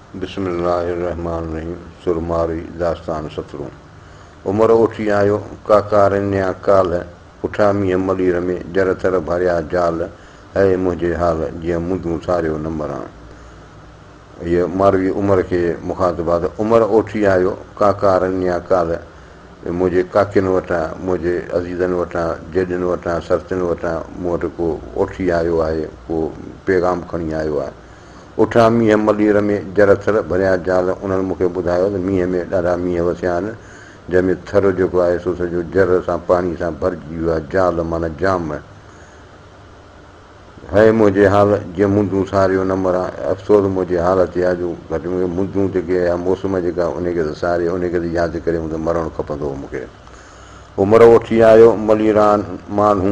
بسم الله الرحمٰن الرحيم سرماري داستان سترون عمر اوٺي آيو ڪاڪا رنيا ڪالهه اٺا مينهن ملير ۾ جر تر ڀريا جال هئي منهنجي حال جيئن مندون ٿاريو نه مران هيء ماروي عمر کي مخاطبات عمر اوٺي آيو ڪاڪا رنيا ڪالهه منهنجي ڪاڪين وٽان منهنجي عزيزن وٽان جيڏن وٽان سرتين وٽان مون وٽ ڪو اوٺي آيو آهي ڪو پيغام کڻي آيو آهي اٺا مينهن ملير ۾ جر ٿر ڀريان جال انهن مون کي ٻڌايو ته مينهن ۾ ڏاڍا مينهن وسيا آهن جنهن ۾ ٿر جيڪو آهي سو سڄو جر سان پاڻي سان ڀرجي ويو آهي جال معنيٰ جام هيء منهنجي حال جي مندون ساريو نه مران افسوس منهنجي حال تي آهي جو گهٽ ۾ گهٽ مندون جيڪي اها موسم جيڪا انهي کي ته ساري انهي کي ته يا تي ڪري مون مرڻ کپندو هو مون کي عمر وٺي آيو مليران ماڻهو.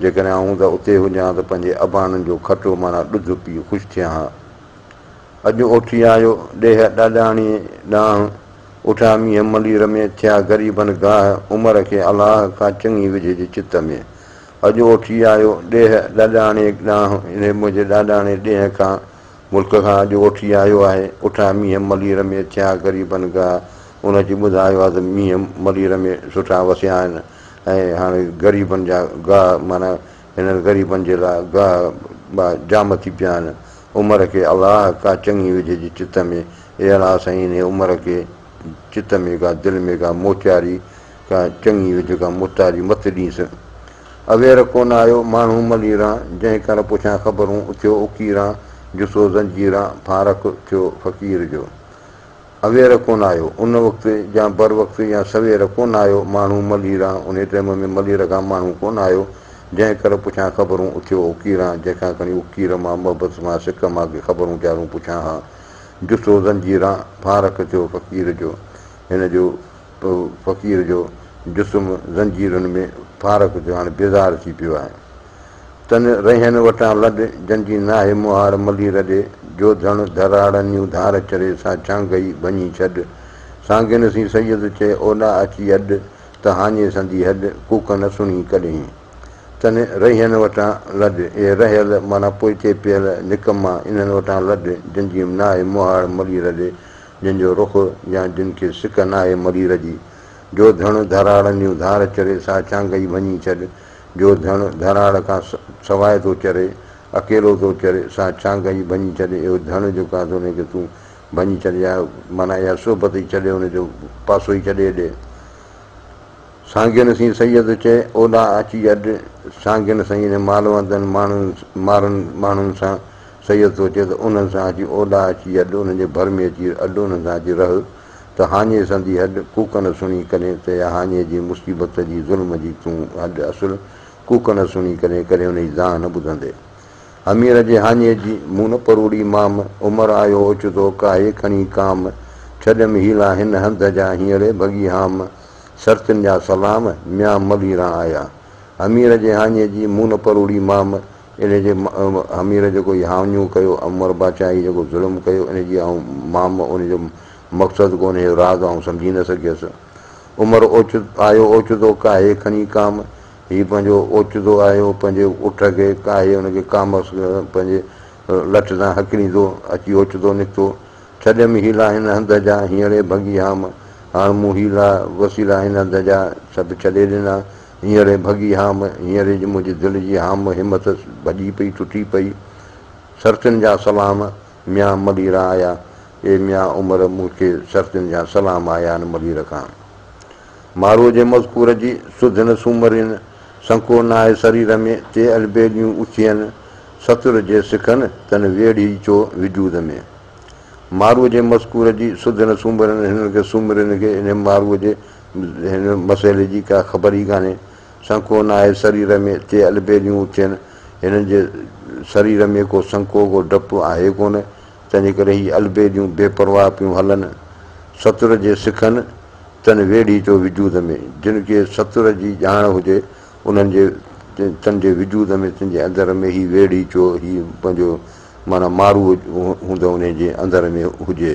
جيڪڏهن آئون ته اتي هجان ها ته پنهنجي اباڻن جو کٽو معنيٰ ڏڌ پي خوش ٿيان ها. اڄ اوٺي آيو ڏيهه ڏاڏاڻيء ڏانهن. اٺا مينهن ملي رمي ٿيا غريبن گاهه عمر کي الاهه کان چڱي وجهي جي چت ۾. اڄ اوٺي آيو ڏيهه ڏاڏاڻيء ڏانهن. اهي منهنجي ڏاڏاڻي ڏينهن کان ملڪ کان اڄ اوٺي آيو آهي. اٺا مينهن ملير ۾ ٿيا غريبن گاهه. ان اچي ٻڌايو آهي ته مينهن ملير ۾ سٺا وسيا آهن ۽ هاڻي غريبن جا گاهه معنيٰ هنن غريبن جي لاء گاهه ٻاهه جام ٿي پيا آهن. عمر کي الله ڪا چڱي وجهي جي چت ۾ اي الله سائين انهي عمر کي چت ۾ ڪا دل ۾ ڪا موچاري ڪا چڱي وجهه ڪا مختاري مت ڏينس. اوير ڪو نه آيو ماڻهو مليران، جنهن ڪر پڇان خبرون اٿيو اڪيران، جسو زنجيران ڦارڪ ٿيو فقير جو. اوير ڪو نه آيو ان وقت يا بر وقت يا سوير ڪو نه آيو ماڻهو مليران، انهي ٽيم ۾ ملير کان ماڻهو ڪو نه آيو، جنهن ڪر پڇان خبرون اٿيو اڪيران، جنهن کان کڻي اڪير مان محبت مان سڪ مان ڪي خبرون چارون پڇان ها، جسو زنجيران ڦارڪ ٿيو فقير جو. هن جو. پوء فقير جو جسم زنجيرن ۾ ڦارڪ ٿيو هاڻي بيزار ٿي پيو آهي تن رهين وٽان لڏ جن جي ناهي مهاڙ ملي رڏي جو ڌڻ ڌراڙنيون ڌار چري سا ڇانگهئي ڀڃي ڇڏ سانگين سين سيد چئي اوڏا اچي اڏ ته هاڃي سندي هڏ ڪوڪ نه سڻي ڪڏهين تن رهين وٽان لڏ اي رهيل معنيٰ پوئتي پيل نڪما انهن وٽان لڏ جن جي ناهي مهاڙ ملي رڏي جن جو رخ يا جن کي سڪ ناهي مرير جي. جو ڌڻ ڌراڙن جون ڌار چري سا چانگئي ڀڃي ڇڏ. جو ڌڻ ڌراڙ کان سواء ٿو چري، اڪيلو ٿو چري، سا چانگئي ڀڃي ڇڏ. اهو ڌڻ جيڪو آهي سو ان کي تون ڀڃي ڇڏ يا معنيٰ اها صحبت ئي ڇڏي ان جو پاسو ئي ڇڏي ڏي. سانگين سين سيد چئي اولا اچي اڏ. سانگين سين مالوندن ماڻهن مارن ماڻهن سان سيد سوچيو ته انهن سان اچي اوڏا اچي اڏ انهن جي ڀر ۾ اچي اڏ انهن سان اچي رهه ته هاڃي سندي هڏ ڪوڪن سڻي ڪڏهن ته يا هاڃي جي مصيبت جي ظلم جي تون هڏ اصل ڪوڪن سڻي ڪڏهن ڪڏهن ان جي دانهن نه ٻڌندي همير جي هاڃي جي مون نه پروڙي مام عمر آيو اوچتو ڪاهي کڻي ڪام ڇڏيم هيلا هن هنڌ جا هينئري ڀڳي هام سرتين جا سلام ميان ملهيران آيا همير جي هاڃي جي مون نه پروڙي مام ان جي امير جيڪو ياونيون ڪيو عمر باچائي جيڪو ظلم ڪيو ان جي آئون مام ان جو مقصد ڪو انهيء راز آئون سمجهي نه سگهيس عمر اوچت آيو اوچتو ڪاهي کڻي ڪام هي پنهنجو اوچتو آيو پنهنجي اٺ کي ڪاهي ان کي ڪامس پنهنجي لٺ سان هڪليندو اچي اوچتو نڪتو ڇڏيم حيلا هن هنڌ جا هينئڙي ڀڳي هام هاڻ مون حيلا وسيلا هن هنڌ جا سڀ ڇڏي ڏنا هينئر ئي ڀڳي هام، هينئر ئي جو منهنجي دل جي هام همت ڀڄي پئي ٽٽي پئي. سرتين جا سلام، ميان مليرا آيا، اي ميان عمر مون کي سرتين جا سلام آيا آهن ملير کان. ماروء جي مذڪور جي سڌ نه سومرين، سنڪو ناهي سرير ۾، تي البيليون اٿين، ستر جي سکن تن ويڙهي چو وجود ۾. ماروء جي مذڪور جي سڌ نه سومرين، هنن کي سومرين کي انهي ماروء جي هن مسئلي جي ڪا خبر ئي ڪانهي. سنڪو ناهي سرير ۾ تي البيليون اٿين. هنن جي سرير ۾ ڪو سنڪو، ڪو ڊپ آهي ڪونه. تنهنجي ڪري هي البيليون بي پرواهه پيون هلن. ستر جي سکن تن ويڙهي ٿو وجود ۾. جن کي ستر جي ڄاڻ هجي، انهن جي تن جي وجود ۾، تن جي اندر ۾ هي ويڙهي چو، هي پنهنجو معنيٰ مارو هوندو انهيء جي اندر ۾ هجي.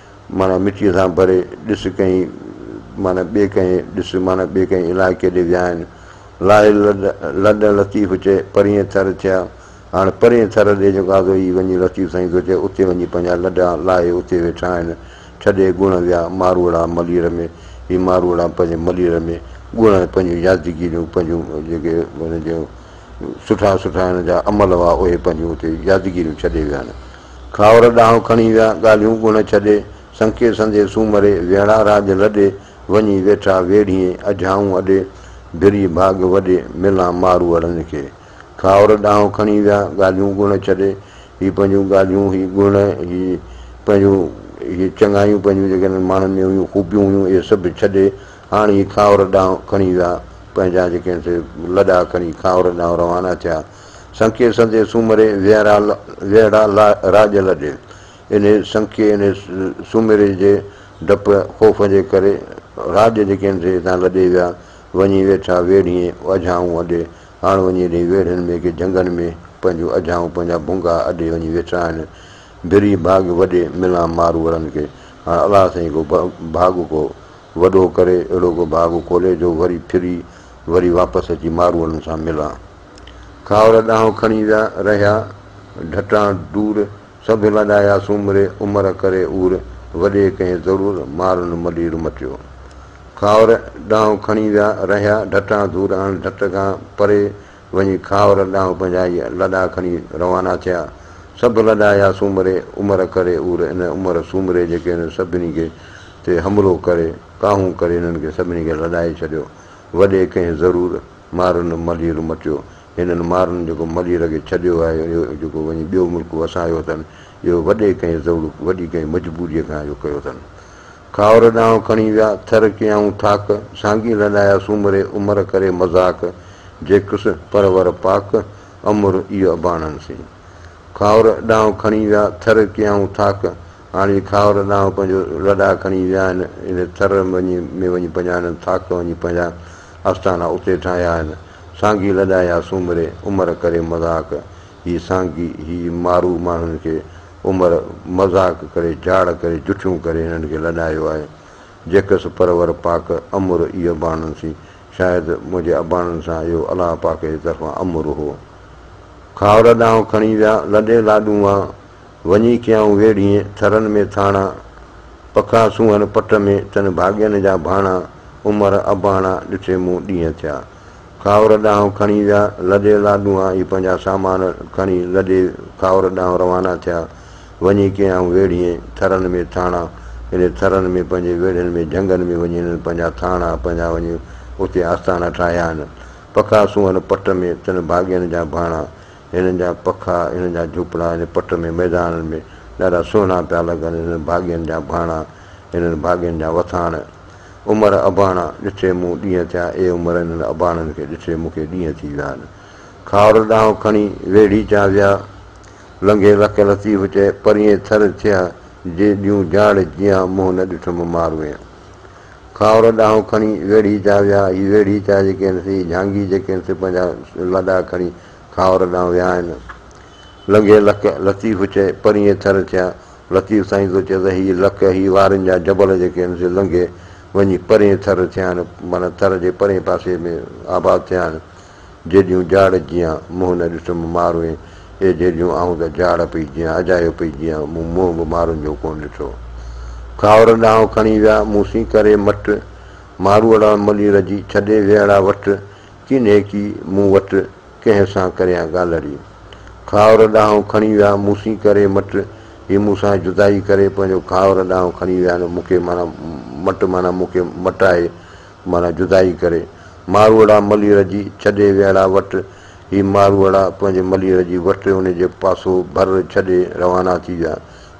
معنيٰ مٽيء سان ڀري ڏس ڪنهن معنيٰ ٻئي ڪنهن ڏس معنيٰ ٻئي ڪنهن علائقي ڏي ويا آهن. لاهل لڏ ۽ لطيف چئي پرينء ٿر ٿيا. هاڻ پرينء ٿر ڏي جو غازو ئي وڃي لطيف سائين ٿو چئي اتي وڃي پنهنجا لڏا لاهي اتي ويٺا آهن. ڇڏي ڳڻ ويا ماروئڙا ملير ۾. هي ماروئڙا پنهنجي ملير ۾ ڳڻ ۽ پنهنجون يادگيريون پنهنجون جيڪي هن جون سٺا سٺا هن جا عمل هئا، اهي پنهنجيون اتي يادگيريون ڇڏي ويا آهن. کاهور ڏانهن کڻي ويا، ڳالهيون ڳڻ ڇڏي، سنڪي سندي سومري، ويڙها راڄ لڏي، وڃي ويٺا ويڙهيين، اجهائون اڏي، ڀري ڀاڳ وڏي، ملان ماروئڙن کي. کاهور ڏانهن کڻي ويا، ڳالهيون ڳڻ ڇڏي، هي پنهنجيون ڳالهيون، هي گڻ، هي پنهنجون، اهي چڱايون پنهنجون جيڪي هنن ماڻهن ۾ هيون، خوبيون هيون، اهي سڀ ڇڏي، هاڻ هي کاهور ڏانهن کڻي ويا. پنهنجا جيڪي هن سي لڏا کڻي کاهور ڏانهن روانا ٿيا. سنکي سندي سومري ويهڙا ويهڙا راڄ لڏي. انهي سنکي انهي سومري جي ڊپ خوف جي ڪري راڄ جيڪي هن سي هتان لڏي ويا. وڃي ويٺا ويڙهين اجهائون اڏي. هاڻ وڃي انهي ويڙهين ۾ ڪي جهنگن ۾ پنهنجون اجهائون پنهنجا ڀونگا اڏي وڃي ويٺا آهن. ڀري ڀاڳ وڏي ملان ماروئڙن کي. هاڻ الله سائين ڪو ڀاڳ ڪو وڏو ڪري اهڙو ڪو ڀاڳ کولي جو وري ڦري وري واپس اچي ماروئڙن سان ملان. کاهوڙا ڏانهن کڻي ويا رهيا ڍٽان ڍور سڀ لڏايا سومري عمر ڪري عور وڏي ڪنهن ضرور مارن مڏير مٽيو. کاهوڙا ڏانهن کڻي ويا رهيا ڍٽان ڍور اڻ ڍٽ کان پري وڃي کاور ڏانهن پنهنجا هيء لڏا کڻي روانا ٿيا. سڀ لڏا يا سومري عمر ڪري اور ان عمر سومري جيڪي انهن سڀني کي تي حملو ڪري ڪاهون ڪري انهن کي سڀني کي لڏائي ڇڏيو. وڏي ڪنهن ضرور مارن ملير مٽيو. هنن مارن جيڪو ملير کي ڇڏيو آهي اهو جيڪو وڃي ٻيو ملڪ وسايو اٿن اهو وڏي ڪنهن ضرور وڏي ڪنهن مجبوريء کان اهو ڪيو اٿن. کاهور ڏانهن کڻي ويا، ٿر ڪيائون ٿاڪ، سانگي لڏايا سومري، عمر ڪري مذاق، جيڪس پرور پاڪ، امر ايء اباڻن سين. کاهور ڏانهن کڻي ويا، ٿر ڪيائون ٿاڪ، هاڻ اهي کاهور ڏانهن پنهنجو لڏا کڻي ويا آهن، ان ٿر ۾ وڃي پنهنجا انهن ٿاڪ وڃي پنهنجا آستانا اتي ٺاهيا آهن، سانگي لڏايا سومري، عمر ڪري مذاق، هي سانگي، هي مارو ماڻهن کي عمر مذاق ڪري جھاڙ ڪري جٺيون ڪري ھنن کي لڏايو آھي جيڪس پرور پاڪ امر اي اباڻن سين شايد منھنجي اباڻن سان اھو الله پاڪ جي طرفان امر ھو کاھور ڏانھن کڻي ويا لڏي لاڏون وان وڃي ڪيائون ويڙھين ٿرن ۾ ٿاڻا پکا سونھن پٽ ۾ تن ڀاڳين جا ڀاڻا عمر اباڻا ڏٺي مون ڏينھن ٿيا. کاور ڏانهن کڻي ويا. لڏي لاڏو آن اي پنهنجا سامان کڻي لڏي کاور ڏانهن روانا ٿيا. وڃي ڪيائون ويڙهين، ٿرن ۾ ٿاڻا. انهن ٿرن ۾ پنهنجي ويڙهين ۾ جهنگن ۾ وڃي هنن پنهنجا ٿاڻا، پنهنجا وڃي اتي آستانا ٺاهيا هن. پکا سونهن پٽ ۾ تن ڀاڳين جا ڀاڻا. هنن جا پکا، هنن جا جهوپڙا ان پٽ ۾ ميدانن ۾ ڏاڍا سونهنا پيا لڳن. هنن ڀاڳين جا ڀاڻا، هنن ڀاڳين جا وٿاڻ. عمر اباڻا ڏٺي مون ڏينهن ٿيا اي عمر انهن اباڻن کي ڏٺي مون کي ڏينهن ٿي ويا آهن خار ڏانهن کڻي ويڙهي چا ويا لنگهي لک لطيف چئي پرينء ٿر ٿيا جي ڏيون جاڙ جيان منهن نه ڏٺم ماروئين خار ڏانهن کڻي ويڙهي چا ويا هي ويڙهي چا جيڪي آهن سي هي جهانگي جيڪي آهن سي پنهنجا لڏا کڻي خار ڏانهن ويا آهن لنگهي لک لطيف چئي پرينء ٿر ٿيا لطيف سائين ٿو چئي ته هي لڪ، هي وارن جا جبل جيڪي آهن سي لنگهي وڃي پرين ٿر ٿيا آهن، معنيٰ ٿر جي پرين پاسي ۾ آباد ٿيا آهن. جيڏيون جاڙ جيان، منهن نه ڏٺم ماروئين، اي جيڏيون آئون ته جاڙ پئي جيان، اجايو پئي جيان، مون منهن به مارن جو ڪونه ڏٺو. کاهور ڏانهن کڻي ويا، مون سين ڪري مٽ، ماروئڙا ملير جي، ڇڏي ويهڙا وٽ، چينهيڪي مون وٽ ڪنهن سان ڪريان ڳالهڙي. کاهور ڏانهن کڻي ويا مون سين ڪري مٽ. هي مون سان جدائي ڪري پنهنجو کاهور ڏانهن کڻي ويا نه مون کي معنيٰ مٽ معنيٰ مون کي مٽائي معنيٰ جدائي ڪري. ماروئڙا ملير جي ڇڏي ويئڙا وٽ. هي ماروئڙا پنهنجي ملير جي وٽ ان جي پاسو ڀر ڇڏي روانا ٿي ويا.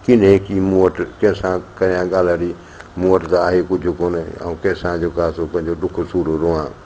چينهيڪي مون وٽ ڪنهن سان ڪريان ڳالهڙي. مون وٽ ته آهي ڪجهه ڪونه آئون ڪنهن سان جو ڪا ٿو پنهنجو ڏک سور روئان.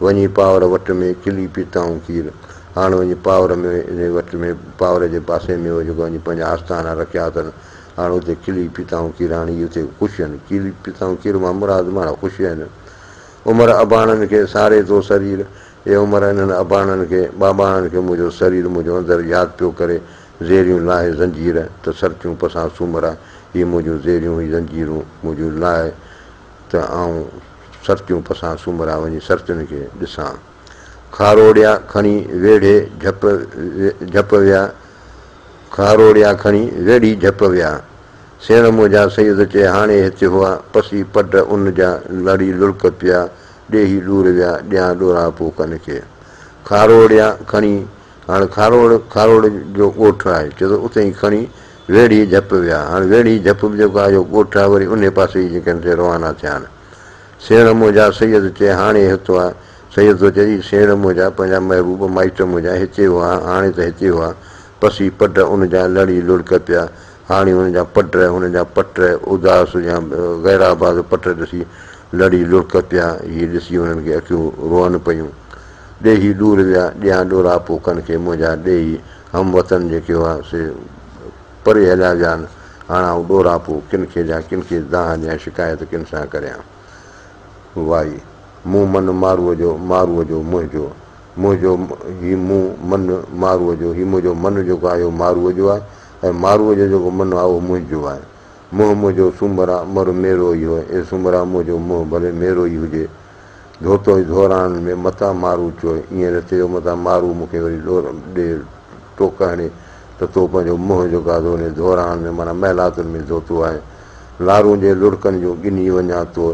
وڃي پاور وٽ ۾ چلي پيتائون کير. هاڻ وڃي پاور ۾ انهي وٽ ۾ پاور جي پاسي ۾ هو جيڪو وڃي پنهنجا آستانا رکيا اٿن. هاڻ اتي چلي پيتائون کير هاڻ هي اتي خوش هن. چلي پيتائون کير مان مراد ماڻهه خوش هن. عمر اباڻن کي ساري ٿو سرير. اي عمر انهن اباڻن کي، ٻاٻاڻن کي منهنجو سرير منهنجو اندر ياد پيو ڪري. زيريون لاهي زنجير ته سرتيون پسان سومرا. هي منهنجون زيريون هي زنجيرون منهنجون لاهي. ته آئون سرتيون پسان سومرا وڃي سرتين کي ڏسان. خاروڙيا کڻي ويڙهي جهپ جهپ ويا خاروڙيا کڻي ويڙهي جهپ ويا. سيڻ منهنجا سيد چي هاڻي هتي هئا پسي پڊ ان جا لڙي لڙڪ پيا ڏيهي ڏور ويا ڏيان ڏورا پو ڪن کي خاروڙيا کڻي هاڻ خاروڙ خاروڙ جو ڳوٺ آهي چي ته اتي ئي کڻي ويڙهي جهپ ويا. هاڻ ويڙهي جهپ به جيڪو آهي اهو ڳوٺ آهي وري انهي پاسي جي جنڪشن تي روانا ٿيا آهن. سيڻ منهنجا سيد چئي هاڻي هتو آ. سيد ٿو چئي سيڻ منهنجا پنهنجا محبوب مائٽ منهنجا هتي هئا هاڻي ته هتي هئا پسي پڊ ان جا لڙي لڙڪ پيا هاڻي هن جا پڊ هن جا پٽ اداس يا غيرآباد پٽ ڏسي لڙي لڙڪ پيا هي ڏسي هنن کي اکيون روئن پيون ڏيهي ڏور ويا ڏيهان ڏوراپو ڪن کي منهنجا ڏيهي هم وطن جيڪي هئا، سي پري هليا ويان، هاڻ آئون ڏوراپو ڪن کي ڏيان، ڪن کي دانهن ڏيان، شڪايت ڪن سان ڪريان. وائي! مون من ماروء جو، ماروء جو منهنجو، منهنجو هي مون من ماروء جو، هي منهنجو من جيڪو آهي اهو ماروء جو آهي، ۽ ماروء جو جيڪو من آهي اهو منهنجو آهي. منهن منهنجو سومرا، مر ميرو ئي هو، اي سومرا منهنجو منهن ڀلي ميرو ئي هجي، ڌوتو ۽ ڌوراڻن ۾ متان مارو چوء ائين نه چيو متان مارو مون کي وري ڏور ڏي ٽوڪ هڻي ته تو پنهنجو منهن جو گاڌو ني ڌوراڻن ۾ معنيٰ محلاتن ۾ ڌوتو آهي لارون جي لڙڪن جون ڳنهي وڃان تو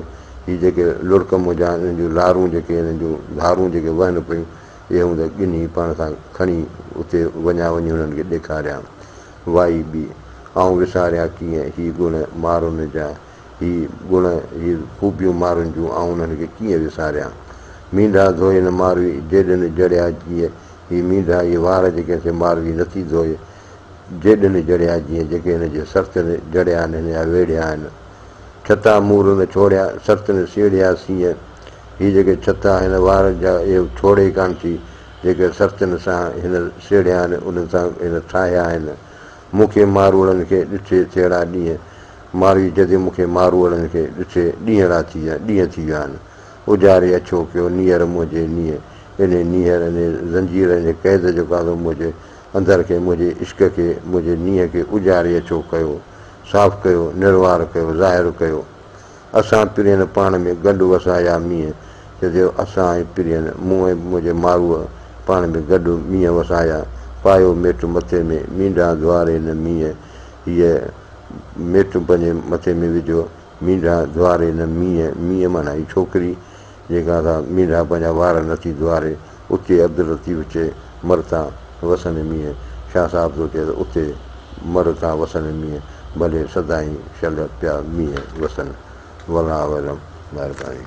هي جيڪي لڙڪ منهنجا انهن جون لارون جيڪي انهن جون ڌارون جيڪي وهن پيون اهي هون ته ڳنهي پاڻ سان کڻي اتي وڃان وڃي هنن کي ڏيکاريان وائي ٻي آئون وساريان ڪيئن هي گڻ مارن جا هي گڻ، هي خوبيون مارن جون، آئون انهن کي ڪيئن وساريان. مينڍا ڌوئي نه ماروي، جيڏن جڙيا جيء، هي مينڍا، هي وار جيڪي هن کي ماروي نٿي ڌوئي، جيڏن جڙيا جيء، جيڪي هن جي سرتين جڙيا آهن، هن جا ويڙهيا آهن. ڇتا مور نه ڇوڙيا، سرتين سيڙهيا سينء، هي جيڪي ڇتا آهن، وار جا اهي ڇوڙي ئي ڪانه ٿي، جيڪي سرتين سان هن سيڙهيا آهن، انهن سان هن ٺاهيا آهن. مون کي ماروئڙن کي ڏٺي ٿيڙا ڏينهن، مارئي جدي مون کي ماروئڙن کي ڏسي ڏينهڙا ٿي ويا ڏينهن ٿي ويا آهن اجاري اڇو ڪيو نيهر منهنجي نيهه انهي نيهر انهي زنجير انهي قيد جو گانڌو منهنجي اندر کي منهنجي عشق کي منهنجي نيهه کي اجاري اڇو ڪيو صاف ڪيو نروار ڪيو ظاهر ڪيو اسان پرين پاڻ ۾ گڏ وسايا مينهن جدي اسان ۽ پرين مون ۽ منهنجي ماروء پاڻ ۾ گڏ مينهن وسايا پايو ميٽ مٿي ۾ مينڊان ڌواري نه مينهن هيء ميٽون پنهنجي مٿي ۾ وجهو، مينڍا ڌواري نه مينهن، مينهن معنيٰ هي ڇوڪري، جيڪا سا مينڍا پنهنجا وار نه ٿي ڌواري، اتي عبداللطيف چئي، مر تان وسندي مينهن، شاهه صاحب ٿو چئي ته اتي مر تان وسندي مينهن، ڀلي سدائين شل پيا مينهن وسن. والله اعلم. مهرباني.